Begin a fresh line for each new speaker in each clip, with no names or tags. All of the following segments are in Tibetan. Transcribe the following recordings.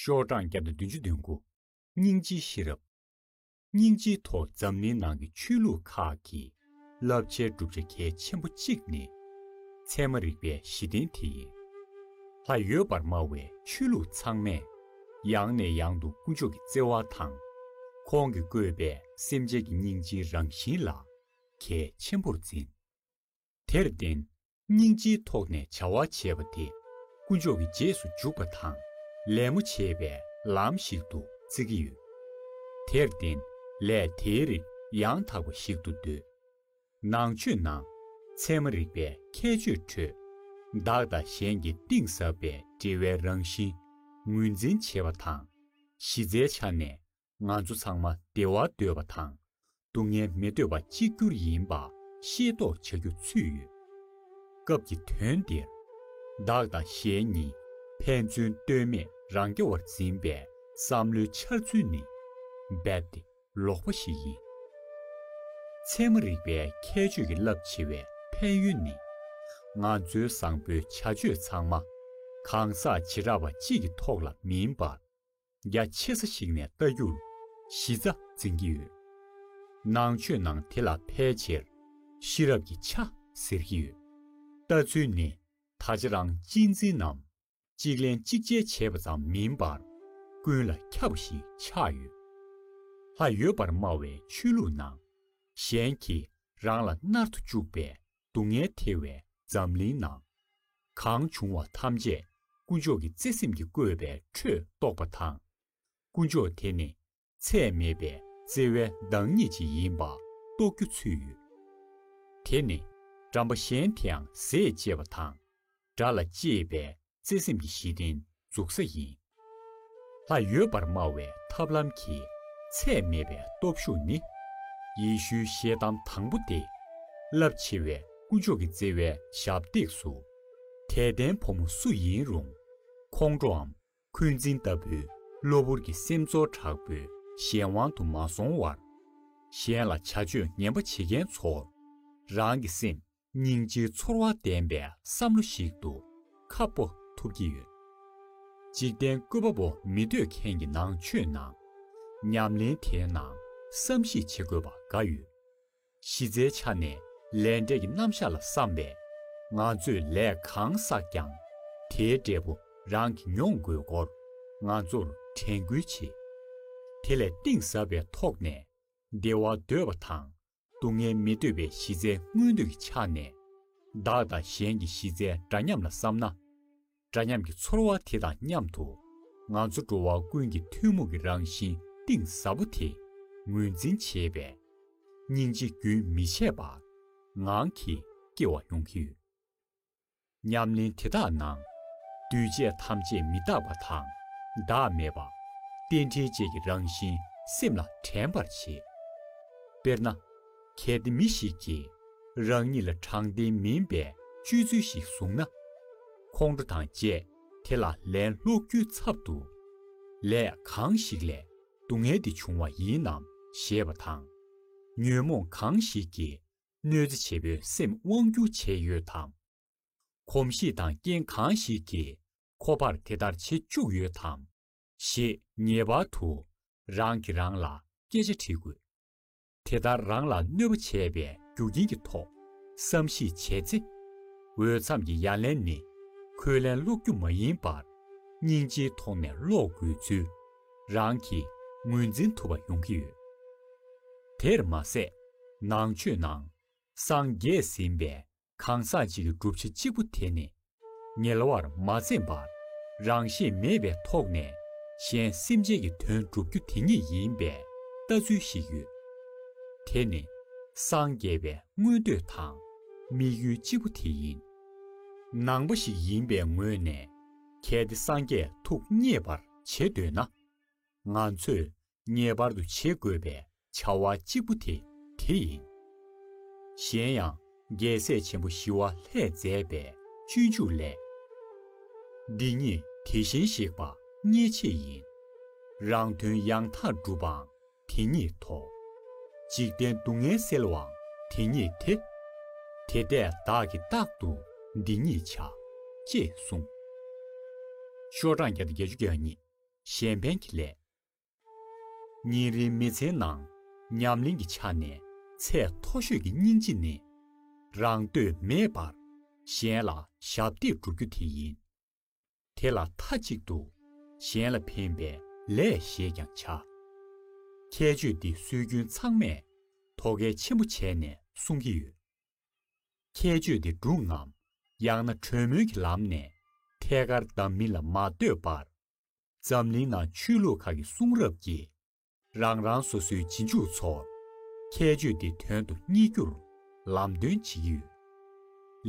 ཤོག་གྲངས་བརྒྱ་དང་བདུན་ཅུ་བདུན་དགུ། སྙིང་རྗེའི་ཤེས་རབ། སྙིང་རྗེའི་ཐོག་འཛམ་གླིང་ནང་གི་ཆོས་ལུགས་ཁག་གི་བསླབ་བྱའི་གྲུབ་ཆ་གལ་ཆེན་པོ་གཅིག་ནི། ཚད་མ་རིག་པའི་གཞི་རྟེན་དེ་ཡིན། ལྷ་ཡོད་པར་སྨྲ་བའི་ཆོས་ལུགས་ཚང་མས། ཡང་ནས་ཡང་དུ་དཀོན་མཆོག་གི་བརྩེ་བ་དང། ཁོང་གིས་བཀོད་པའི་སེམས་ཅན་གྱི་སྙིང་རྗེའི་རང་བཞིན་ལ་གལ་ཆེན་པོར་འཛིན། དེར་བརྟེན་སྙིང་རྗེའི་ཐོག་ནས་བྱ་བ་བྱེད་པ་དེ་དཀོན་མཆོག་གི་རྗེས་སུ་འཇུག་པ་དང་ལད་མོ་བྱེད་པའི་ལམ་ཞིག་ཏུ་བརྩི་གི་ཡོད། དེར་བརྟེན་ལས་དེའི་རིགས་ཡང་དག་པ་ཞིག་ཏུ་འདོད། ནང་ཆོས་ནང་ཚན་མ་རིག་པའི་ཁྱད་ཆོས་ཁྲོད། བདག་དང་གཞན་གྱི་གཏིང་ཟབ་པའི་འབྲེལ་བའི་རང་བཞིན་ངོས་འཛིན་བྱེད་པ་དང་གཞི་རྩའི་ཆ་ནས་ང་ཚོ་ཚང་མ་བདེ་བ་འདོད་པ་དང་སྡུག་བསྔལ་མི་འདོད་པ་གཅིག་གྱུར་ཡིན་པ་ཤེས་རྟོགས་བྱ་རྒྱུ་ཚུད་ཡོད། སྐབས་ཀྱི་དོན་འདིར། བདག་དང་གཞན་གཉིས་ཕན་ཚུན་ལྟོས་མེད་རང་སྐྱོ་བར་འཛིན་པའི་བསམ་བློའི་འཆར་ཚུལ་ནི་རྦད་དེ་ལོག་པ་ཞིག་ཡིན། ཚད་མ་རིག་པའི་ཁྱད་ཆོས་ཀྱི་རླབས་ཆེ་བའི་ཕན་ཡོན་ནི། ང་ཚོའི་བཟང་པོའི་བྱ་སྤྱོད་ཚང་མ་གང་ཟག་བྱེ་བྲག་པ་གཅིག་གི་ཐོག་ལ་མིན་པར། རྒྱ་ཆེ་ས་ཞིག་ནས་བལྟ་རྒྱུར་གཞི་རྩ་འཛིན་གྱི་ཡོད། ནང་ཆོས་ནང་དེ་ལ་ཕལ་ཆེར་ཤེས་རབ་ཀྱི་ཆ་ཟེར་གྱི་ཡོད། ལྟ་ཚུལ་ནི་ད་ཆ་རང་གཅེས་འཛིན་ནམ་གཅིག་ལེན་གཅིག་འཇལ་བྱེད་པ་ཙམ་མིན་པར་ཀུན་ལ་ཁྱབ་པ་ཞིག་ཆགས་ཡོད། ལྷ་ཡོད་པར་སྨྲ་བའི་ཆོས་ལུགས་ནང་གཞན་གྱིས་རང་ལ་མནར་དུ་བཅུག་པའི་སྡུག་བསྔལ་ཐལ་བའི་འཛམ་གླིང་ན། གང་བྱུང་བ་ཐམས་ཅད་དཀོན་མཆོག་གི་བརྩེ་སེམས་ཀྱི་བཀོད་པའི་ཁྲོད་གཏོགས་པ་དང། དཀོན་མཆོག་དེ་ནི་ཚད་མེད་པའི་བརྩེ་བའི་བདག་ཉིད་ཅིག་ཡིན་པ་རྟོགས་རྒྱུ་ཚུད་ཡོད། དེ་ནི་འགྲམ་པ་གཞན་དེའང་ཟས་བཅད་པ་དང་སྒྲ་ལ་གཅེས་པའི་བརྩེ་སེམས་ཀྱི་གཞི་རྟེན་འཛུགས་ས་ཡིན། ལྷ་ཡོད་པར་སྨྲ་བའི་ཐབས་ལམ་གྱི། ཚད་མེད་པའི་སྟོབས་ཤུགས་ནི། ཡེ་ཤུའི་ཤེལ་གཏམ་དང་པོ་སྟེ། རླབས་ཆེ་བའི་སྐུ་མཆོག་གི་བརྩེ་བའི་ཞབས་སྟེགས་སུ། དད་ལྡན་ཕོ་མོ་སུ་ཡིན་རུང། ཁོང་ཁྲོའམ་འཁོན་འཛིན་ལྟ་བུའི་གློ་བུར་གྱི་སེམས་ཚོར་དྲག་པོའི་གཞན་དབང་དུ་མ་སོང་བར། གཞན་ལ་བྱ་སྤྱོད་ངན་པ་བྱེད་མཁན་ཚོར་རང་གི་སེམས་སྙིང་རྗེའི་ཚོར་བ་ལྡན་པའི་བསམ་བློ་ཞིག་ཏུ་ཁ་སྤོ་ཐུབ་ཀྱི་ཡོད། འཇིག་རྟེན་བཀོད་པ་པོ་མི་འདོད་མཁན་གྱི་ནང་ཆོས་ནང། ཉམས་ལེན་དེའི་ནང་བསམ་གཞིག་བྱེད་དགོས་པ་འགའ་ཡོད། གཞི་རྩའི་ཆ་ནས་ལས་འབྲས་ཀྱི་རྣམ་གཞག་ལ་བསམ་པས། ང་ཚོས་ལས་གང་བསགས་ཀྱང་དེའི་འབྲས་བུ་རང་གིས་མྱོང་དགོས་སྐོར་ང་ཚོར་དྲན་སྐུལ་བྱེད། དེ་ལས་གཏིང་ཟབ་པའི་ཐོག་ནས་བདེ་བ་འདོད་པ་དང་སྡུག་བསྔལ་མི་འདོད་པའི་གཞི་རྩའི་མངོན་འདོད་ཀྱི་ཆ་ནས། བདག་དང་གཞན་གྱི་གཞི་རྩའི་འདྲ་མཉམ་ལ་བསམ་ན། འདྲ་མཉམ་གྱི་ཚོར་བ་དེ་དང་མཉམ་དུ། ང་ཚོ་འགྲོ་བ་ཀུན་གྱི་ཐུན་མོང་གི་རང་བཞིན་གཏིང་ཟབ་པོ་དེ་ངོས་འཛིན་བྱེད་པས། སྙིང་རྗེ་རྒྱུན་མི་ཆད་པར་ངང་གིས་སྐྱེ་བ་ཡོང་གི་ཡོད། ཉམས་ལེན་དེ་དག་ནང། འདུས་བྱས་ཐམས་ཅད་མི་རྟག་པ་དང། བདག་མེད་པ། རྟེན་འབྲེལ་བཅས་ཀྱི་རང་བཞིན་སེམས་ལ་དྲན་པར་བྱེད། དཔེར་ན། གལ་ཏེ་མི་ཞིག་གིས་རང་ཉིད་ལ་དྲང་བདེན་མིན་པའི་སྤྱོད་ཚུལ་ཞིག་བཟུང་ན། ཁོང་ཁྲོ་དང་བཅས་དེ་ལ་ལན་སློག་རྒྱུའི་ཚབ་ཏུ། ལས་གང་ཞིག་ལས་སྡུག་བསྔལ་འདི་བྱུང་བ་ཡིན་ནམ་ཞེས་པ་དང། ཉོན་མོངས་གང་ཞིག་གིས་གནོད་འཚེ་བྱེད་པོའི་སེམས་དབང་རྒྱུ་བྱས་ཡོད་དམ། གོམས་གཤིས་དང་རྐྱེན་གང་ཞིག་གིས་ཁོ་པར་དེ་ལྟར་བྱེད་བཅུག་ཡོད་དམ། ཞེས་ངེས་པར་དུ་རང་གིས་རང་ལ་སྐད་ཆ་དྲིས་དགོས། དེ་ལྟར་རང་ལ་གནོད་པ་བྱས་པའི་རྒྱུ་རྐྱེན་གྱི་ཐོག་བསམ་གཞིགས་བྱས་ཚེ། འོས་འཚམས་ཀྱི་ཡ་ལན་ནི་ཁོས་ལན་སློག་རྒྱུ་མ་ཡིན་པར། སྙིང་རྗེའི་ཐོག་ནས་སློག་དགོས་ཚུལ་རང་གིས་ངོས་འཛིན་ཐུབ་པ་ཡོང་གི་ཡོད། དེར་མ་ཟད། ནང་ཆོས་ནང་སངས་རྒྱས་ཟིན་པའི་གང་ཟག་ཅིག་གི་སྒྲུབ་བྱེད་གཅིག་པུ་དེ་ནི། ཉེ་བར་མ་འཛེམས་པར་རང་ཤེད་མེད་པའི་ཐོག་ནས་གཞན་སེམས་ཅན་གྱི་དོན་བསྒྲུབ་རྒྱུ་དེ་ཉིད་ཡིན་པའི་ལྟ་ཚུལ་ཞིག་ཡོད། དེ་ནི་སངས་རྒྱས་པའི་མངོན་འདོད་དང་དམིགས་ཡུལ་གཅིག་པུ་དེ་ཡིན། ནང་པ་ཞིག་ཡིན་པའི་ངོས་ནས་གལ་ཏེ་སངས་རྒྱས་ཐུགས་མཉེས་པར་བྱེད་འདོད་ན། ང་ཚོས་ངེས་པར་དུ་བྱེད་དགོས་པའི་བྱ་བ་གཅིག་པུ་དེ་དེ་ཡིན། གཞན་ཡང་རྒྱལ་སྲས་ཆེན་པོ་ཞི་བ་ལྷས་མཛད་པའི་སྤྱོད་འཇུག་ལས། འདི་གཉིས་དེ་བཞིན་གཤེགས་པ་གཉིས་ཆེད་ཡིན། རང་དོན་ཡང་དག་སྒྲུབ་པའང་དེ་ཉིད་དོ། འཇིག་རྟེན་སྡུག་བསྔལ་སེལ་བའང་དེ་ཉིད་དེ། དེ་ལྟས་བདག་གིས་རྟག་ཏུ་འདི་ཉིད་བྱ། ཅེས་གསུངས། ཤོག་གྲངས་བརྒྱ་དང་བརྒྱད་ཅུ་གྱ་གཉིས། གཞན་ཕན་གྱི་ལས། ཉིན་རེའི་མི་ཚེའི་ནང་ཉམས་ལེན་གྱི་ཆ་ནས་ཚད་མཐོ་ཤོས་ཀྱི་སྙིང་རྗེ་ནི། རང་འདོད་མེད་པར་གཞན་ལ་ཞབས་འདེགས་བསྒྲུབ་རྒྱུ་དེ་ཡིན། དེ་ལ་མཐའ་གཅིག་ཏུ་གཞན་ལ་ཕན་པའི་ལས་ཞེས་ཀྱང་བྱ། ཁྱད་ཆོས་འདི་སྲོལ་རྒྱུན་ཚང་མས་ཐོ་གལ་ཆེན་པོ་བྱས་ནས་གསུང་གི་ཡོད། ཁྱད་ཆོས་འདི་སྒྲུང་ངམ་ཡང་ན་གྲོས་མོལ་གྱི་ལམ་ནས་ཐད་ཀར་བདམས་མིན་ལ་མ་ལྟོས་པར། འཛམ་གླིང་ནང་ཆོས་ལུགས་ཁག་གི་གསུང་རབ་ཀྱིས་རང་རང་སོ་སོའི་རྗེས་འཇུག་ཚོ། ཁྱད་ཆོས་དེ་དོན་དུ་གཉིས་བསྒྱུར། ལམ་སྟོན་བྱེད་ཀྱི་ཡོད།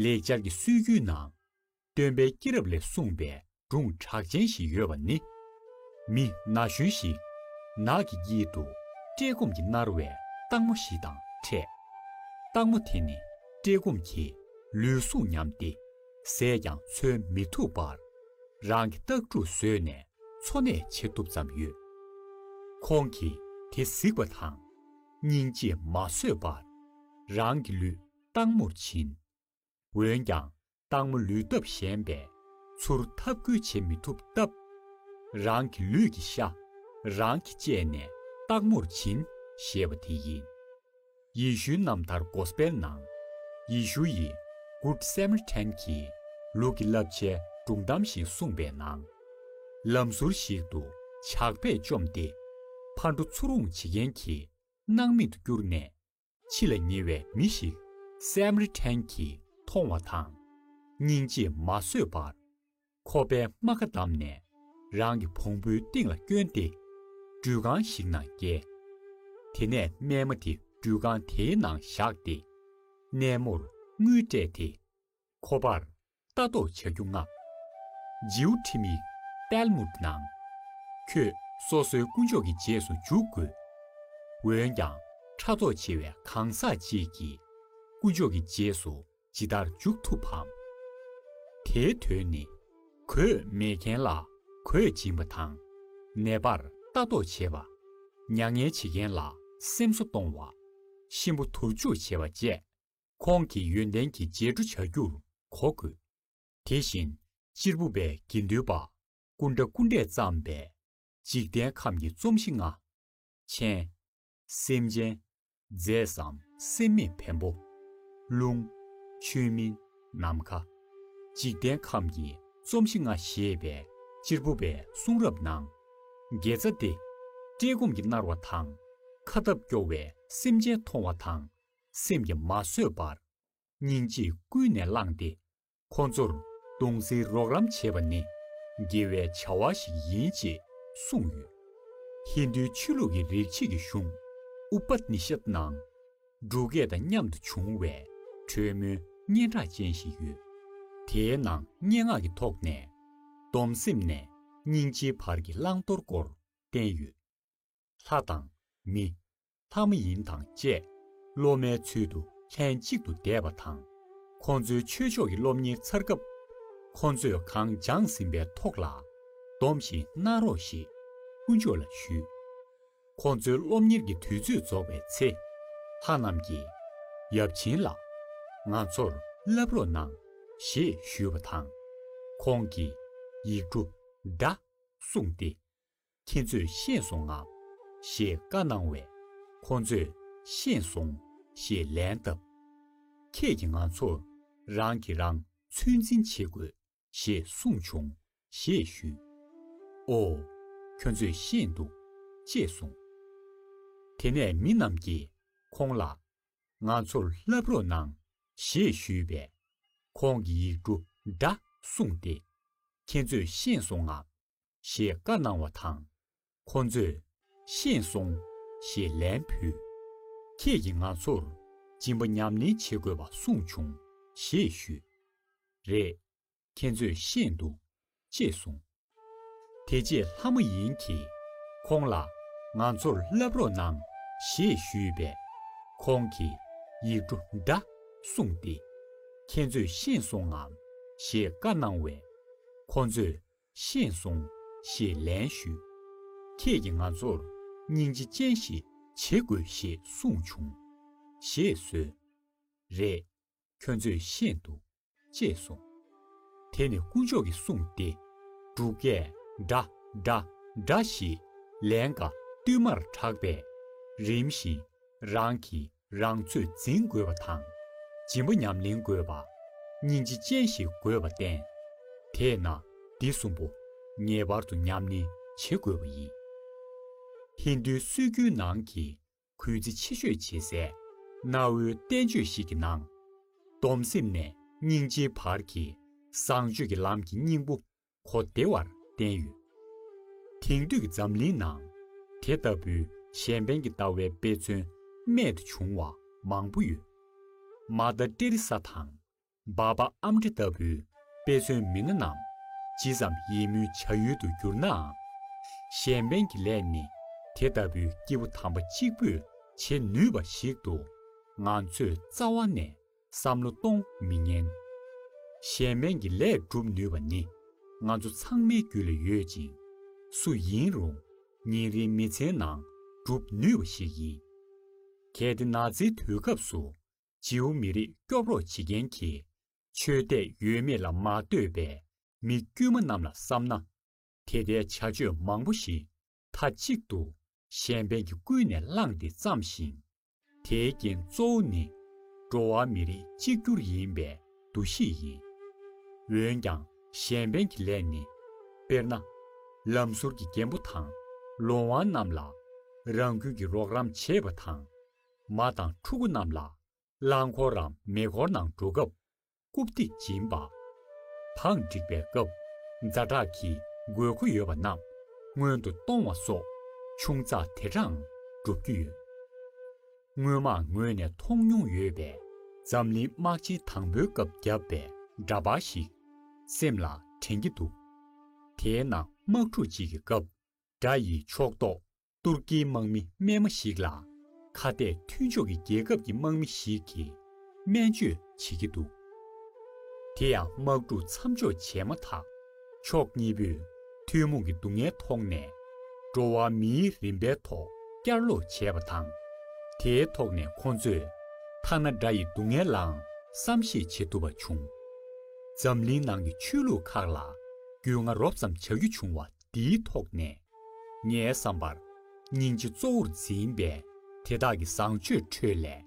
ལེགས་སྦྱར་གྱི་སྲོལ་རྒྱུན་ནང། སྟོན་པའི་སྐྱེས་རབས་ལས་གསུངས་པའི་སྒྲུང་གྲགས་ཅན་ཞིག་ཡོད་པ་ནི། མི་ན་གཞོན་ཞིག་ནགས་ཀྱི་དཀྱིལ་དུ་བཀྲེས་སྐོམ་གྱིས་མནར་བའི་སྟག་མོ་ཞིག་དང་འཕྲད། སྟག་མོ་དེ་ནི་བཀྲེས་སྐོམ་གྱིས་ལུས་ཟུངས་ཉམས་ཏེ། ཟས་ཀྱང་འཚོལ་མི་ཐུབ་པར། རང་གི་སྟག་ཕྲུག་བཟོས་ནས་འཚོ་གནས་བྱེད་ཐུབ་ཙམ་ཡོད། ཁོང་གིས་དེ་གཟིགས་པ་དང། སྙིང་རྗེས་མ་བཟོད་པར། རང་གི་ལུས་སྟག་མོར་བྱིན། འོན་ཀྱང་སྟག་མོ་ལུས་སྟོབས་ཞན་པས། ཚུར་འཐབ་རྒོལ་བྱེད་མི་ཐུབ་སྟབས། རང་གི་ལུས་ཀྱི་ཤ་རང་གིས་བཅད་ནས་སྟག་མོར་བྱིན་ཞེས་པ་དེ་ཡིན། ཡེ་ཤུའི་རྣམ་ཐར Gospel ནང། ཡེ་ཤུ་ཡིས Good Samaritan གྱི་ལུག་གི་བསླབ་བྱའི་སྒྲུང་གཏམ་ཞིག་གསུངས་པའི་ནང། ལམ་ཟུར་ཞིག་ཏུ་ཇག་པས་བཅོམ་སྟེ་ཕར་འགྲོ་ཚུར་འོང་བྱེད་མཁན་གྱི་སྣང་མེད་དུ་བསྐྱུར་ནས་འཆི་ལ་ཉེ་བའི་མི་ཞིག Samaritan གྱིས་མཐོང་བ་དང། སྙིང་རྗེས་མ་བཟོད་པར། ཁོ་པའི་རྨ་ཁ་བསྡམས་ནས་རང་གི་བོང་བུའི་སྟེང་ལ་བསྐྱོན་ཏེ་སྦྲུལ་ཁང་ཞིག་ནང་བསྐྱལ། དེ་ནས་རྨས་མ་དེ་སྦྲུལ་ཁང་དེའི་ནང་བཞག་སྟེ་རྣལ་མོར་དངུལ་སྤྲད་དེ། ཁོ་པར་ལྟ་རྟོག་བྱ་རྒྱུ་མངགས། ཇིའུ་ཁྲི་མི་ཏལ་མུ་ནང། ཁྱོད་སོ་སོའི་དཀོན་མཆོག་གི་རྗེས་སུ་འཇུག་དགོས། འོན་ཀྱང་ཕྲ་ཚོགས་ཆེ་བའི་གང་ཟག་ཅིག་གིས་དཀོན་མཆོག་གི་རྗེས་སུ་ཇི་ལྟར་འཇུག་ཐུབ་བམ། དེའི་དོན་ནི། གོས་མེད་མཁན་ལ་གོས་སྦྱིན་པ་དང། ནད་པར་ལྟ་རྟོག་བྱེད་པ། མྱ་ངན་བྱེད་མཁན་ལ་སེམས་གསོ་གཏོང་བ། གཤིན་པོ་དུར་འཇུག་བྱེད་པ་བཅས་ཁོང་གི་ཡོན་ཏན་གྱི་རྗེས་འགྲོ་བྱ་རྒྱུར་གོ་དགོས། དེ་བཞིན་གཅེར་བུ་པའི་དགེ་འདུན་པ་སྐུ་འདྲ་སྐུ་འདྲས་བརྩམས་པའི། འཇིག་རྟེན་ཁམས་ཀྱི་རྩོམ་གཞི་ལྔ། མཆན། སེམས་ཅན། རྫས་སམ་སེམས་མེད་བེམ་པོ། རླུང། ཆོས་མིན་ནམ་མཁའ། འཇིག་རྟེན་ཁམས་ཀྱི་རྩོམ་གཞི་ལྔ་ཞེས་པའི་སྤྱིར་བུམ་པའི་གསུང་རབ་ནང། དགེ་རྩ་སྟེ། བཀྲེས་སྐོམ་གྱིས་མནར་བ་དང། ཁ་སྟབས་སྐྱོ་བའི་སེམས་ཅན་མཐོང་བ་དང། སེམས་ཀྱི་མ་བཟོད་པར། སྙིང་རྗེས་ཀུན་ནས་བསླངས་ཏེ། ཁོ་ཚོར་སྟོང་གཟིགས་རོགས་རམ་བྱེད་པ་ནི་དགེ་བའི་བྱ་བ་ཞིག་ཡིན་ཅེས་གསུངས་ཡོད། ཧིན་དུའི་ཆོས་ལུགས་ཀྱི་རིག་བྱེད་ཀྱི་གཞུང Upanishad ནང། འབྲུ་སྐད་དང་མཉམ་དུ་བྱུང་བའི་གྲོས་མོལ་སྙན་གྲགས་ཅན་ཞིག་ཡོད། དེའི་ནང་སྙན་ངག་གི་ཐོག་ནས། སྡོམ་སེམས་ནས་སྙིང་རྗེའི་བར་གྱི་བླང་དོར་སྐོར་བསྟན་ཡོད། ལྷ་དང། མི། ལྷ་མ་ཡིན་དང་བཅས། སློབ་མའི་ཚུལ་དུ་ལྷན་གཅིག་ཏུ་བསྡད་པ་དང། ཁོང་ཚོའི་ཆོས་ཕྱོགས་ཀྱི་སློབ་གཉེར་ཚར་སྐབས། ཁོང་ཚོས་གང་སྦྱངས་ཟིན་པའི་ཐོག་ལ། སྡོམ་ཞིག་གནང་རོགས་ཞེས་དཀོན་མཆོག་ལ་ཞུས། ཁོང་ཚོའི་སློབ་གཉེར་གྱི་དུས་ཚོད་རྫོགས་པའི་ཚེ། ལྷ་རྣམས་ཀྱིས། ཡབ་ཆེན་ལགས། ང་ཚོར་བསླབ་རོགས་གནང། ཞེས་ཞུས་པ་དང། ཁོང་གིས། ཡིག་འབྲུ་བདའ། གསུངས་ཏེ། ཁྱེད་ཚོས་ཤེས་སོང་ངམ། ཞེས་བཀའ་གནང་བས། ཁོང་ཚོས་ཤེས་སོང། ཞེས་ལན་བཏབ། ཁྱེད་ཀྱིས་ང་ཚོ་རང་གིས་རང་ཚོད་འཛིན་བྱེད་དགོས་ཞེས་གསུངས་བྱུང་ཞེས་ཞུས། ཨོ། ཁྱོད་ཚོས་ཤེས་འདུག་ཅེས་གསུངས། དེ་ནས་མི་རྣམས་ཀྱིས་ཁོང་ལ། ང་ཚོར་བསླབ་རོགས་གནང་ཞེས་ཞུས་པས། ཁོང་གིས་ཡིག་འབྲུ་འདྲ་གསུངས་ཏེ། ཁྱེད་ཚོས་ཤེས་སོང་ངམ། ཞེས་བཀའ་གནང་བ་དང། ཁོང་ཚོས། ཤེས་སོང། ཞེས་ལན་ཕུལ། ཁྱེད་ཀྱིས་ང་ཚོར་སྦྱིན་པ་ཉམས་ལེན་བྱེད་དགོས་པ་གསུངས་བྱུང་ཞེས་ཞུས། རེད། ཁྱེད་ཚོས་ཤེས་འདུག། ཅེས་གསུངས། དེ་རྗེས་ལྷ་མ་ཡིན་གྱིས་ཁོང་ལ། ང་ཚོར་བསླབ་རོགས་གནང་ཞེས་ཞུས་པས། ཁོང་གིས་ཡིག་འབྲུ་འདྲ་གསུངས་ཏེ། ཁྱེད་ཚོས་ཤེས་སོང་ངམ་ཞེས་བཀའ་གནང་བས། ཁོང་ཚོས། ཤེས་སོང། ཞེས་ལན་ཞུས། ཁྱེད་ཀྱིས་ང་ཚོར་སྙིང་རྗེ་ཅན་ཞིག་བྱེད་དགོས་ཞེས་གསུངས་བྱུང། ཞེས་གསོལ། རེད། ཁྱོད་ཚོས་ཤེས་འདུག། ཅེས་གསུངས། དེ་ནི་དཀོན་མཆོག་གིས་གསུངས་ཏེ། འབྲུག་སྐད། འདྲ། འདྲ། འདྲ། ཞེས་ལན་འགའ་བསྟུད་མར་གྲགས་པས། རིམ་བཞིན། རང་གིས་རང་ཚོད་འཛིན་དགོས་པ་དང། སྦྱིན་པ་ཉམས་ལེན་དགོས་པ། སྙིང་རྗེ་ཅན་ཞིག་དགོས་པ་བསྟན། དེས་ན་འདི་གསུམ་པོ་ངེས་པར་དུ་ཉམས་ལེན་བྱེད་དགོས་པ་ཡིན། ཧིན་དུའི་སྲོལ་རྒྱུན་ནང་གི་གུས་བརྩི་ཆེ་ཤོས་བྱེད་སའི་གནའ་བོའི་བསྟན་བཅོས་ཤིག་གི་ནང། སྡོམ་སེམས་ནས་སྙིང་རྗེའི་བར་གྱི་བཟང་སྤྱོད་ཀྱི་ལམ་གྱི་སྙིང་པོ་གོ་བདེ་བར་བསྟན་ཡོད། དེང་དུས་འཛམ་གླིང་ནང་དེ་ལྟ་བུའི་གཞན་ཕན་གྱི་ལྟ་བའི་དཔེ་མཚོན་རྨད་དུ་བྱུང་བ་མང་པོ་ཡོད། མ་མདའ་སྤྲེལ་རི་ས་དང་འབའ་པ་ཨམ་ཁྲི་ལྟ་བུའི་དཔེ་མཚོན་མི་སྣ་རྣམས་ཇི་ཙམ་ཡིད་སྨོན་བྱ་ཡུལ་དུ་གྱུར་ནའང། གཞན་ཕན་གྱི་ལས་ནི་དེ་ལྟ་བུའི་སྐྱེས་བུ་དམ་པ་གཅིག་པུས་བྱེད་ནུས་པ་ཞིག་ཏུ་ང་ཚོས་རྩ་བ་ནས་བསམ་བློ་གཏོང་མི་ཉན། གཞན་སྨན་གྱི་ལས་སྒྲུབ་ནུས་པ་ནི་ང་ཚོ་ཚང་མའི་རྒྱུད་ལ་ཡོད་ཅིང། སུ་ཡིན་རུང་ཉིན་རེའི་མི་ཚེའི་ནང་སྒྲུབ་ནུས་པ་ཞིག་ཡིན། གལ་ཏེ་ནག་ཚའི་དུས་སྐབས་སུ་ཇིའུ་མི་རིགས་སྐྱོབ་རོགས་བྱེད་མཁན་གྱི་ཆོས་དད་ཡོད་མེད་ལ་མ་ལྟོས་པའི་མི་དཀྱུས་མ་རྣམས་ལ་བསམ་ན། དེ་ལྟའི་བྱ་སྤྱོད་མང་པོ་ཞིག་མཐའ་གཅིག་ཏུ་གཞན་ཕན་གྱི་ཀུན་ནས་བསླངས་ཏེ་བརྩམས་ཤིང། དེའི་རྐྱེན་གཙོ་བོ་ནི་འགྲོ་བ་མི་རིགས་གཅིག་གྱུར་ཡིན་པའི་འདུ་ཤེས་ཡིན། འོན་ཀྱང་གཞན་ཕན་གྱི་ལས་ནི། དཔེར་ན། ལམ་ཟུར་གྱི་རྒན་པོ་དང་ལོང་བ་རྣམས་ལ་རང་ཁུལ་གྱི་རོགས་རམ་བྱེད་པ་དང། མ་དང་ཕྲུ་གུ་རྣམས་ལ་རླངས་འཁོར་རམ་མེ་འཁོར་ནང་འགྲོ་སྐབས་རྐུབ་སྟེགས་སྦྱིན་པ། བག་འགྲིག་པའི་སྐབས་རྫ་དྲག་གི་དགོས་མཁོ་ཡོད་པ་རྣམས་སྔོན་དུ་གཏོང་བ་སོགས་ཆུང་ཙག་དེ་དྲང་སྒྲུབ་རྒྱུ་ཡོད། དངོས་མང་ངོས་ནས་མཐོང་མྱོང་ཡོད་པས། འཛམ་གླིང་དམག་ཆེན་དང་པོའི་སྐབས་བརྒྱབ་པའི་འདྲ་པར་ཞིག་སེམས་ལ་དྲན་གྱི་འདུག་དེའི་ནང་དམག་འཁྲུག་ཅིག་གི་སྐབས་དགྲ་ཡི་ཕྱོགས་གཏོགས་ཏུར་ཀིའི་དམག་མི་རྨས་མ་ཞིག་ལ། ཁ་གཏད་མཐུན་ཕྱོགས་ཀྱི་རྒྱལ་ཁབ་ཀྱི་དམག་མི་ཞིག་གིས་སྨན་བཅོས་བྱེད་ཀྱི་འདུག་དེ་ཡང་དམག་འཁྲུག་མཚམས་འཇོག་བྱས་མ་ཐག་ཕྱོགས་གཉིས་པོས་ཐུན་མོང་གི་སྡུག་བསྔལ་ཐོག་ནས། འགྲོ་བ་མིའི་རིན་པའི་ཐོག་བསྐྱར་ལོག་བྱས་པ་དང། དེའི་ཐོག་ནས་ཁོང་ཚོས་ཐ་ན་དགྲ་ཡི་སྡུག་བསྔལ་ལའང་བསམ་ཤེས་བྱེད་ཐུབ་པ་བྱུང། འཛམ་གླིང་ནང་གི་ཆོས་ལུགས་ཁག་ལ་རྒྱུས་མངའ་རོབ་ཙམ་བྱ་རྒྱུ་བྱུང་བ། འདིའི་ཐོག་ནས། ངའི་བསམ་པར། སྙིང་རྗེ་གཙོ་བོར་འཛིན་པའི་དེ་དག་གི་བཟང་སྤྱོད་ཁྲོད་ལས།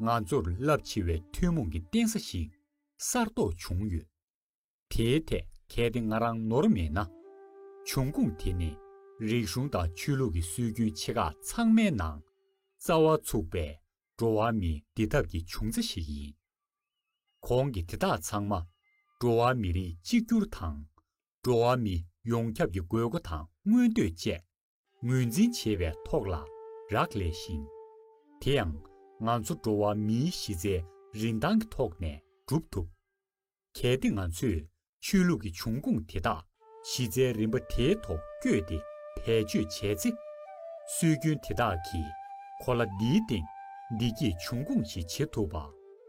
ང་ཚོར་རླབས་ཆེ་བའི་ཐུན་མོང་གི་རྟེན་ས་ཞིག་གསར་རྟོགས་བྱུང་ཡོད། དེའི་ཐད་གལ་ཏེ་ང་རང་ནོར་མེད་ན། འབྱུང་ཁུངས་དེ་ནི་རིག་གཞུང་དང་ཆོས་ལུགས་ཀྱི་སྲོལ་རྒྱུན་ཆེ་ཁག་ཚང་མའི་ནང་རྩ་བ་ཚུགས་པའི་འགྲོ་བ་མིའི་བདེ་ཐབས་ཀྱི་འབྱུང་རྩ་ཞིག་ཡིན། གོང་གི་དེ་དག་ཚང་མ་འགྲོ་བ་མི་རིགས་གཅིག་གྱུར་དང་འགྲོ་བ་མི་ཡོངས་ཁྱབ་ཀྱི་དགོས་མཁོ་དང་མངོན་འདོད་བཅས་ངོས་འཛིན་བྱེད་པའི་ཐོག་ལ་རག་ལས་ཤིང། དེ་ཡང་ང་ཚོ་འགྲོ་བ་མིའི་གཞི་རྩའི་རིན་ཐང་གི་ཐོག་ནས་གྲུབ་ཐུབ། གལ་ཏེ་ང་ཚོས་ཆོས་ལུགས་ཀྱི་འབྱུང་ཁུངས་དེ་དག་གཞི་རྩའི་རིམ་པ་དེའི་ཐོག་བསྐྱོད་དེ་བེད་སྤྱོད་བྱས་ཚེ། སྲོལ་རྒྱུན་དེ་དག་གིས་གོ་ལ་འདིའི་སྟེང་བདེ་སྐྱིད་འབྱུང་ཁུངས་ཤིག་བྱེད་ཐུབ་པ་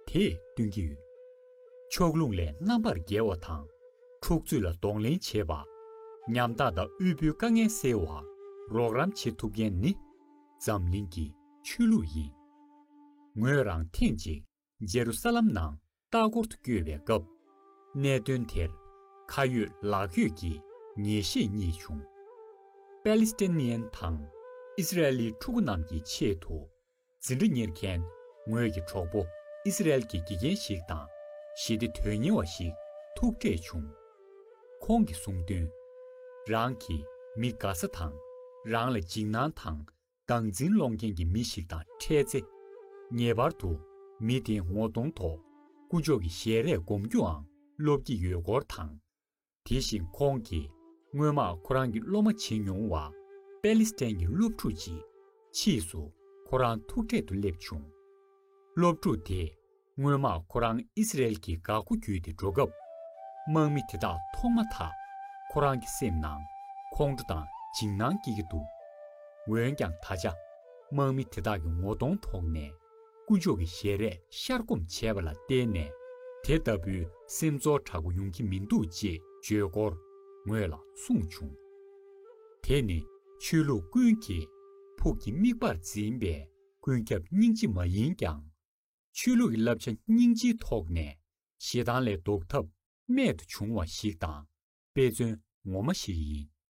དེ་སྟོན་གྱི་ཡོད། ཕྱོགས་ལྷུང་ལས་རྣམ་པར་རྒྱལ་བ་དང་འཁྲུག་རྩོད་ལ་གདོང་ལེན་བྱེད་པ། ཉམ་ཐག་དང་དབུལ་པོའི་དཀའ་ངལ་སེལ་བར་རོགས་རམ་བྱེད་ཐུབ་མཁན་ནི། འཛམ་གླིང་གི་ཆོས་ལུགས་ཡིན། ངོས་རང་ཐེངས་གཅིག་ཇེ་རུ་ས་ལམ་ནང་ལྟ་སྐོར་དུ་བསྐྱོད་པའི་སྐབས། གནད་དོན་དེར་ཁ་ཡོད་ལག་ཡོད་ཀྱི་ངེས་ཤེས་རྙེད་བྱུང། པཱ་ལི་སི་ཐན་ནི་ཡན་དང་ཨི་སི་རལ་ལིའི་ཕྲུ་གུ་རྣམས་ཀྱི་ཆེད་དུ་ཟིན་བྲིས་གཉེར་མཁན། ངོས་ཀྱི་གྲོགས་པོ་ཨི་སི་རལ་གྱི་དགེ་རྒན་ཞིག་དང། ཞི་བདེ་དོན་གཉེར་བ་ཞིག་ཐུག་འཕྲད་བྱུང། ཁོང་གིས་གསུངས་དོན། རང་གིས་མི་དགའ་ས་དང། རང་ལ་འཇིགས་སྣང་དང་སྡང་འཛིན་སློང་མཁན་གྱི་མི་ཞིག་དང་འཕྲད་ཚེ། ངེས་པར་དུ་མི་དེའི་ངོ་གདོང་ཐོག་ཀུན་སྤྱོད་ཀྱི་ཞལ་རས་སྒོམ་རྒྱུའང་སློབ་ཀྱི་ཡོད་སྐོར་དང། དེ་བཞིན་ཁོང་གིས་སྔོན་མ་ཁོ་རང་གི་སློབ་མ་བྱེད་མྱོང་བ་པེ་ལི་སི་ཐན་གྱི་སློབ་ཕྲུག་ཅིག་ཕྱིས་སུ་ཁོ་རང་ཐུག་འཕྲད་དུ་སླེབས་བྱུང། སློབ་ཕྲུག་དེས་སྔོན་མ་ཁོ་རང་ཨི་སི་རེལ་གྱི་འགག་སྒོ་བརྒྱུད་དེ་འགྲོ་སྐབས། དམག་མི་དེ་དག་མཐོང་མ་ཐག་ཁོ་རང་གི་སེམས་ནང་ཁོང་ཁྲོ་དང་འཇིགས་སྣང་སྐྱེས་ཀྱི་འདུག་འོན་ཀྱང་ད་ཆ་དམག་མི་དེ་དག་གི་ངོ་གདོང་དོགས་ནས། སྐུ་མཆོག་གི་ཞལ་རས་ཤར་སྒོམ་བྱས་པ་ལ་བརྟེན་ནས་དེ་ལྟ་བུའི་སེམས་ཚོར་དྲག་པོ་ཡོང་གི་མི་འདུག་ཅེས་བརྗོད་སྐོར་ངོས་ལ་གསུངས་བྱུང། དེ་ནི་ཆོས་ལུགས་ཀུན་གྱིས་ཕུགས་ཀྱི་དམིགས་པར་འཛིན་པའི་ཀུན་ཁྱབ་སྙིང་རྗེ་མ་ཡིན་ཀྱང། ཆོས་ལུགས་ཀྱི་བསླབ་བྱ་སྙིང་རྗེའི་ཐོག་ནས་ཞེ་སྡང་ལས་ལྡོག་ཐབས་རྨད་དུ་བྱུང་བ་ཞིག་དང་དཔེ་མཚོན་ངོ་མ་ཞིག་ཡིན།